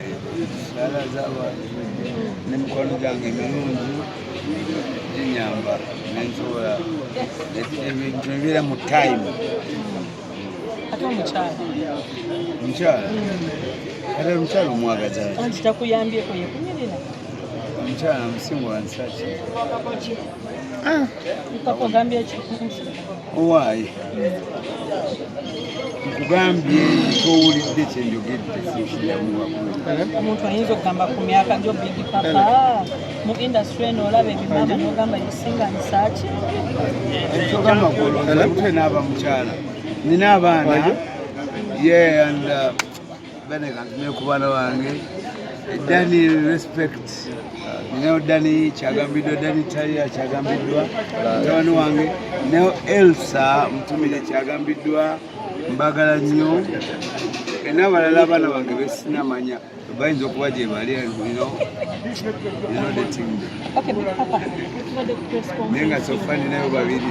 Sala z'abantu n'emikwano gyange emirungi ginyamba nensobola ebintu ebibeera mu time ate omukyala omukyala ate omukyala omwagaza anti takuyambyeko yekunyirira omukyala musinga wansaki ah. ogambye owaaye nkugambye kyowulidde kyenjogedde omuntu ayinza okugamba ku myaka gyo big papa mu industry eno olaba ebimama nogamba yosinga nsaaki ekyogamba golote n'aba mukyala nina abaana ye and uh, bane kantumye ku baana bange dani respect ninayo dani kyagambiddwa dani talia kyagambiddwa mutabani wange nayo elsa mutumire kyagambiddwa mbagala nnyo enabalala abaana bange besinamanya bayinza okuba gye bali naye nga sofa ninayo babiri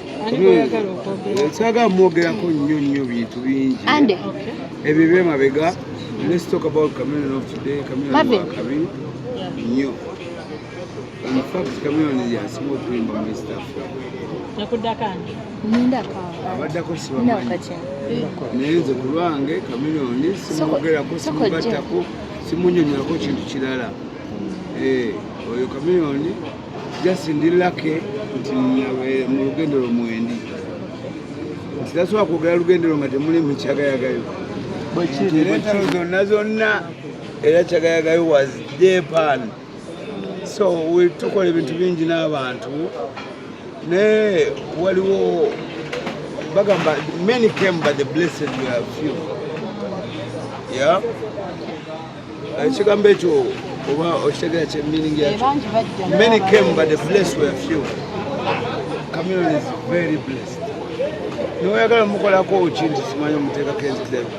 saga mwogerako nnyo nnyo bintu bingi ebyo byemabega let's talk about chameleon of today chameleon wakabi nnyo in fact chameleon yasinga okuyimba mu east africa abaddako sibamanyi naye nze ku lwange chameleon simwogerako simugattako simunyonyolako kintu kirala mm. eh, oyo chameleon just ndi lake nti eh, mu lugendo lwo mwendi nti tasobola kwogera lugendo lwo nga temuli mu kyagayagayo era entalo zonna zonna era kyagayagayo was japan so tukola ebintu bingi n'abantu naye waliwo bagamba many came by the blessed few yeah ekigambo ekyo oba okitegera kye meaning yakyo many came but the blessed were few community is very blessed noyagala mukolako ki nti simanyi omuteekako enzikirero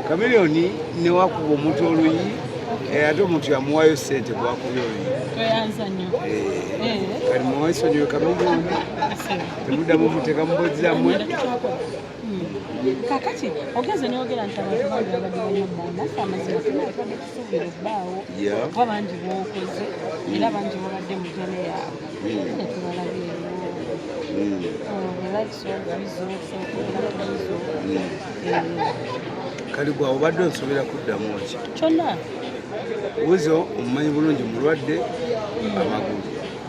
kamiliyoni newakuba omuntu oluyi eh, ate omuntu yamuwayo sente gwakubya oluyi kati muwaisonyiwe kamiliyoni temudamu muteeka mubozi zamwe kakati ogenze noyogera nti abantu bangi babadde banyabba naffe amazima tuna tubadde tusuubira obbaawo kuba bangi bwokoze era bangi babadde mu jana yaabwe hmm. netubalabyeyo kali gwa obadde onsobera kuddamu ki kyonna wuzo omumanyi bulungi mulwadde amagulu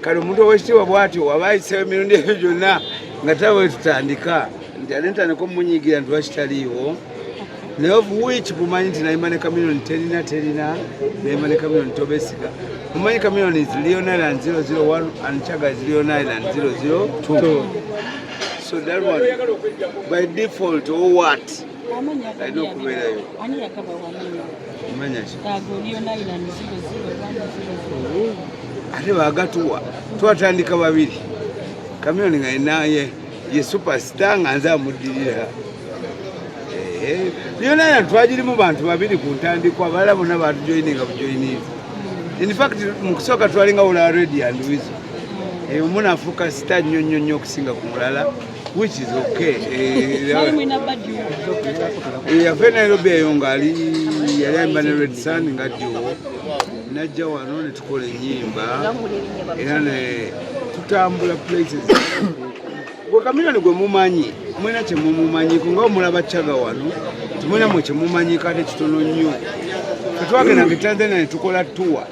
kale omuntu owekitiibwa bwatyo waba ayisewo emirundi ebyo gyonna nga taba wetutandika nti ate ntandika omunyigira nti wakitaliiwo naye of which mumanyi nti nayima ne kamiliyoni terina terina nayima ne kamiliyoni tobesiga mumanyi kamiliyoni is leon island 001 and chaga is leon island 002 so that one by default or what alina okubeerayo ate bagatuwa twatandika babiri kamyoni nga enaye ye supasita nga nze amuddirira byona ya twagirimu bantu babiri ku ntandikwa bala bona batujoyininga bujoyinivu infact mu kusooka twalinga wula redi andiwizo eyo munafuuka sita nnyo nnyo nnyo okusinga ku mulala which is okay eh, ya fena Nairobi eyo ngali yali ayimba ne Red Sun nga jo najja wano ne tukola enyimba era ne tutambula places gwe kamilani gwe mumanyi mwena kyemumumanyiko nga omulaba caga wano tumwena mwe kyemumanyiko ate kitono nnyo tetwagendanga etanzania ne tukola tuwa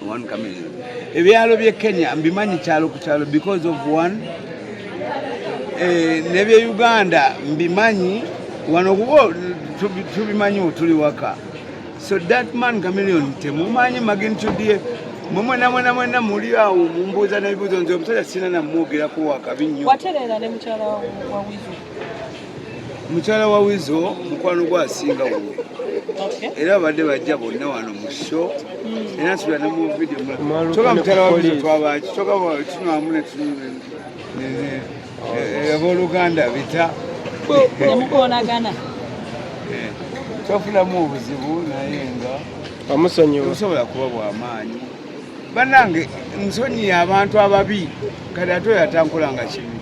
One coming. Ebyalo bye Kenya mbimanyi kyalo ku kyalo because of one eh, ne bye Uganda mbimanyi wano kubo tubimanyi tuli waka so that man Chameleon temumanyi magnitude ye mwemwena mwena mwena muli awo mumbuuza n'ebibuuzo nze omusajja sina namwogerako wakabi nnyo watereera ne mukyala wa wizi mukyala wa wizo mukwano gwa asinga wuwe era babadde bajja bonna wano mu sho hmm. era nsubira ne mu vidiyo kyoka mukyala wa wizo twabaki kyoka tunwamu neaboluganda eh, bita nemukonagana eh, twafunamu obuzibu naye nga omusonyiwa kuba bwamaanyi banange nsonyiye abantu ababi kati ate oyo atankola nga kibi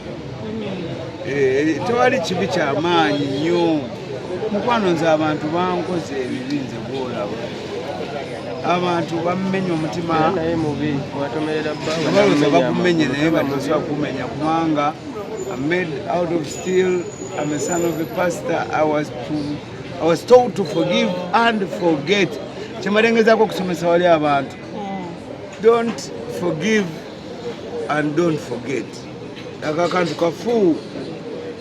eh, tewali kibi kyamaanyi nnyo mukwano nze abantu bankoze ebibi nze bwolaba abantu bamumenya omutima baloza bakumenye naye batosa kumenya kubanga made out of steel am a son of a pastor i was, to, I was told to forgive and forget kyemalengezako okusomesa wali abantu don't forgive and don't forget ako akantu kafu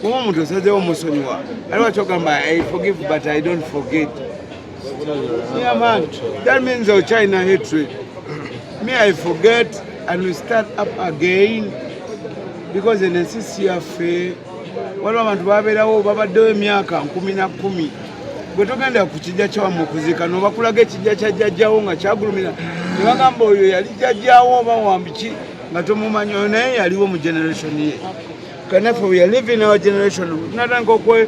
kuba omuntu osazewo omusonyiwa ali wakyogamba i forgive but i don't forget yeah, man. that means our china hatred me i forget and we start up again because in the nccafe waliwo abantu babeerawo babaddewo emyaka nkumi na kkumi gwe togenda ku kijja kyawamu okuziika nobakulaga ekijja kya jjajjawo nga kyagulumira nebagamba oyo yali jjajjawo oba wambiki nga tomumanyi oyo naye yaliwo mu generation ye kanaffe we are living our generation natandika okwe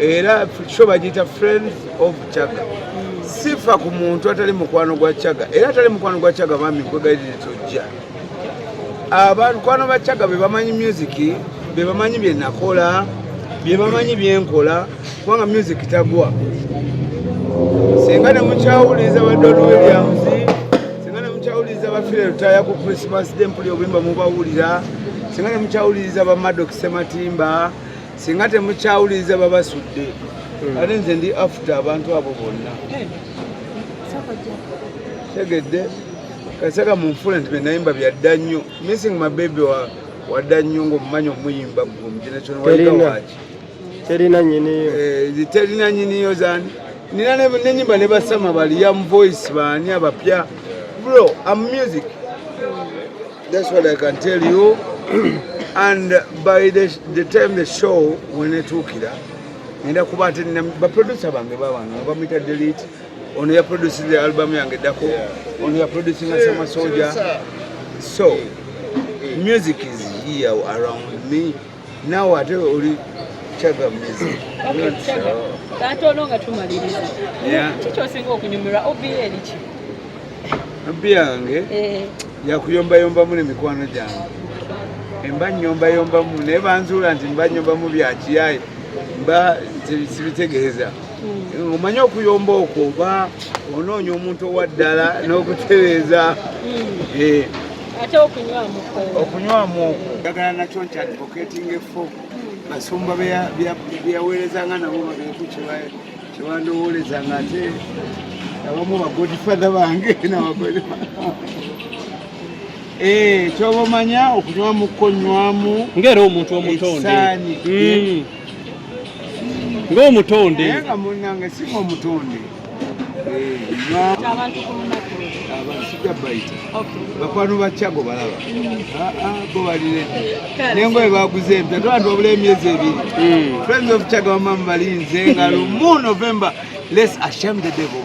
era sho bagiyita friends of chaga sifa ku muntu atali mukwano gwa chaga era atali mukwano gwa chaga bambi nkwegalire tojja abakwano ba chaga bebamanyi music bebamanyi byenakola byebamanyi byenkola kubanga music tagwa singa nemukyawuliriza ba don williams singa nemukyawuliriza bafire lutaya ku christmas dempuli obuyimba mubawulira singa nemukyawuliriza ba madoki sematimba singa temukyawuliriza babasudde hmm. ate nze ndi afuta abantu abo bonna eh, tegedde kasaka munfula nti benayimba byadda nnyo missing mabebe wadda nnyo ngaomumanyi omuyimba gumjenakyonwaiawaki terina nyiniyo eh, terina nyiniyo zani nina nenyimba ne basama bali young voice bani abapya bro am music That's what I can tell you. and by the, the time the show when it took it up, ngenda kuba ate baproducer bange babano bamuyita delete ono yaproducinze album yange eddako ono yaproducinga samasoja so music is here around me Naawe ate oli kyagamizi katono nga tumaliriza kikyosinga okunyumirwa obi eriki obi yange eh. yakuyombayombamu nemikwano gyange emba nyombayombamu naye banzuula nti mba nyombamu byakiyaye mba sibitegeeza hmm. omanye okuyomba okwo oba onoonya omuntu owaddala n'okutereeza hmm. eh. ate okunywamu okunywamu okwo njagala nakyo nti advocating efo basumba beyaweerezanga nabo babeeku kyebandowoolezanga ate abamu bagodfather bange nabagod eh, kyoba omanya okunywamu kukonywamu ngaera omuntu omutonde hmm. ngaomutonde nga munange singa omutonde bakwano bakyago balaba bo balire nengoye baguze empya tobantu babula emyezi ebiri hmm. friends of kyago bamamu balinze nga lumu november less asham the devil